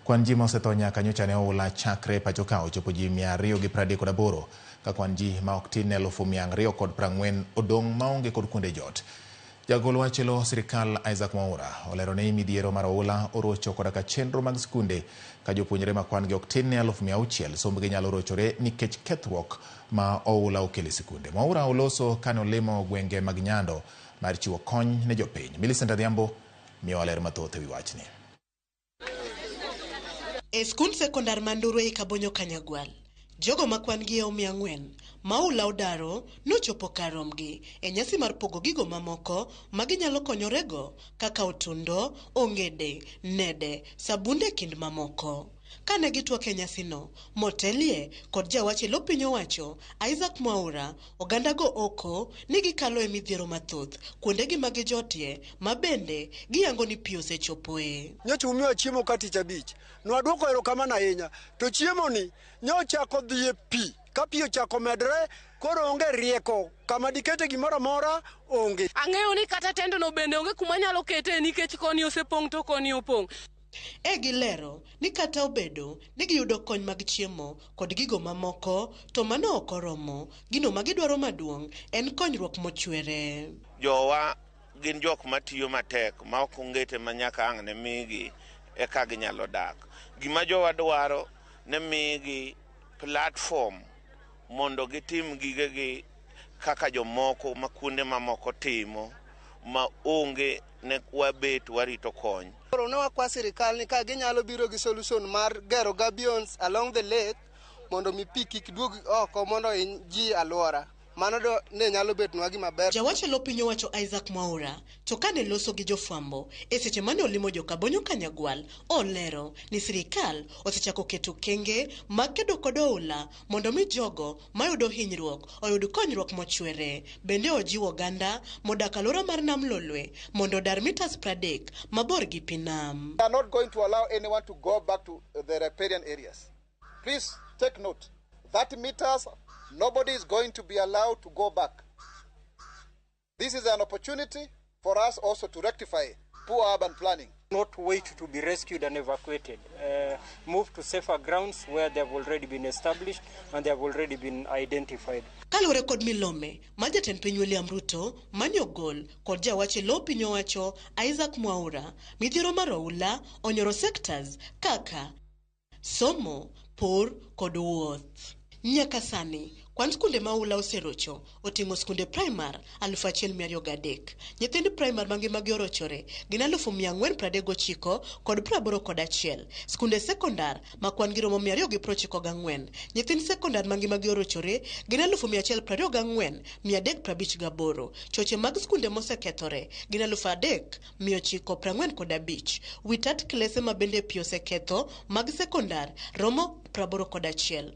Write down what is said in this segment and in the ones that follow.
Kwan ji ma osetho nyaka nyocha ne oula chakre e pacho ka ochopo ji mia ariyo gi pradek kod aboro, ka kwan ji ma ok tin ne elufu mia ang'riyo kod prang'wen odong' maonge kod kuonde jot. Jagol wach elo sirkal Isaac Mwaura olero ni midhiero mar oula orocho koda ka chenro mag skunde ka jopuonjre ma kwan gi ok tin ne alufu mia auchiel sombgi nyalo rochore nikech kethruok ma oula okelo e sikunde. Mwaura oloso kane olimo gwenge mag Nyando mar chiwo kony ne jopiny. Millicent Adhiambo miyowa ler mathoth ewi wachni. E skund sekondar ma Nduru ei Kabonyo Kanyagwal, jogo ma kwan gi eom mia ang'wen ma oula odaro nochopo kar rombgi e nyasi mar pogo gigo mamoko ma ginyalo konyorego kaka otundo, ongede, nede, sabunde e kind mamoko. Kane gitwak e nyasino, motelie kod jawach e lo piny owacho Isaac Mwaura, Ogandago oko ni gikalo e midhiero mathoth kuondegi ma gijotie ma bende giyango ni pi osechopoe. Nyocha umiwa chiemo ka tich abich. Nwaduoko erokamano ahinya. To chiemoni nyo ochako dhi e pi. Ka pi ochako medre, koro onge rieko. Kama dikete gimoro amora onge. Ang'eyo ni kata tendno bende onge kuma anyalo ketee nikech koni osepong' to koni opong'. E Gilero ni kata obedo ni giyudo kony mag chiemo kod gigo mamoko, to mano ok oromo. Gino ma gidwaro maduong' en konyruok mochwere. Jowa gin jok matiyo matek maok ongete ma nyaka ang' ne migi eka ginyalo dak. Gima jowa dwaro ne migi platform mondo gitim gigegi kaka jomoko ma kuonde mamoko timo ma onge ne wabet warito kony. Koro ne wakwa sirikal ni ka ginyalo biro gi solution mar gero gabions along the lake mondo mi pi kik duog oko mondo hiny ji alwora. Mano do ne nyalo betnwa gima ber. Jawach eloo piny owacho Isaac Mwaura to kane loso gi jofwambo e seche mane olimo jo Kabonyo Kanyagwal olero ni sirikal osechako keto okenge mag kedo kod oula mondo mi jogo mayudo hinyruok oyud konyruok mochwere. Bende ojiwo oganda modak alwora mar nam Lolwe mondo odar mitas pradek mabor gi pi nam. We are not going to allow anyone to go back to the riparian areas. Please take note, 30 meters, nobody is going to be allowed to go back. This is an opportunity for us also to rectify poor urban planning. Not wait to be rescued and evacuated. Uh, move to safer grounds where they have already been established and they have already been identified. Kaluwore kod milome ma jatend piny William Ruto mani ogol kod jawache lo piny owacho Isaac Mwaura, midhiero mar oula onyoro sectors kaka Somo, pur, kod wuoth. Nyaka sani, kwan skunde ma oula oserocho oting'o skunde praimar 1,203. Nyithind praimar ma ngimagi orochore gin 439,000 kod praboro kod achiel. Skunde sekondar ma kwan gi romo 294. Nyithind sekondar ma ngimagi orochore gin 124,358. Choche mag skunde mosekethore gin 3,000. 945. Wi tat klese ma bende pi oseketho mag sekondar romo 81.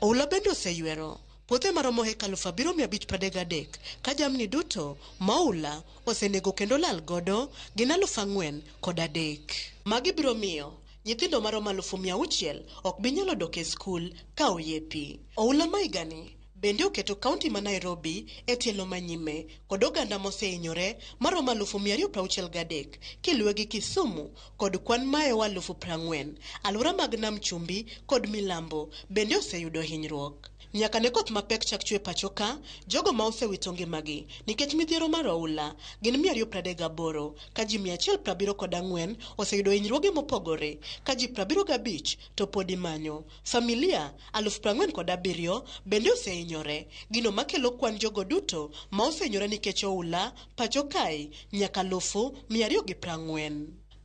Oula bende oseywero puothe maromo heka alufu abiriyo mia abich pradek gadek ka jamni duto ma oula osenego kendo lal godo gin alufu ang'wen kod adek. Magi biro miyo nyithindo maromo alufu mia auchiel ok bi nyalo dok e skul ka oye pi. Oula ma higani Bende oketo kaunti ma Nairobi e tielo ma nyime kod oganda mosehinyore maromo alufu mia ariyo prauchiel gadek kiluwe gi Kisumu kod kwan maeo alufu prang'wen. Aluora mag Nam Chumbi kod Milambo bende oseyudo hinyruok. Nyaka ne koth mapek chak chwe pacho ka, jogo ma osewito ngimagi nikech midhiero mar oula gin mia ariyo pradek gaboro ka ji mia achiel prabiro kod ang'wen oseyudo hinyruoge mopogore ka ji prabiro gabich to pod imanyo. Familia aluf prang'wen kod abiriyo bende osehinyore, gino makelo kwan jogo duto ma osehinyore nikech oula pacho kae nyaka alufu mia ariyo gi prang'wen.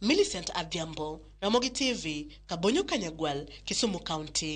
Millicent Adhiambo, Ramogi TV, Kabonyo Kanyagwal, Kisumu County.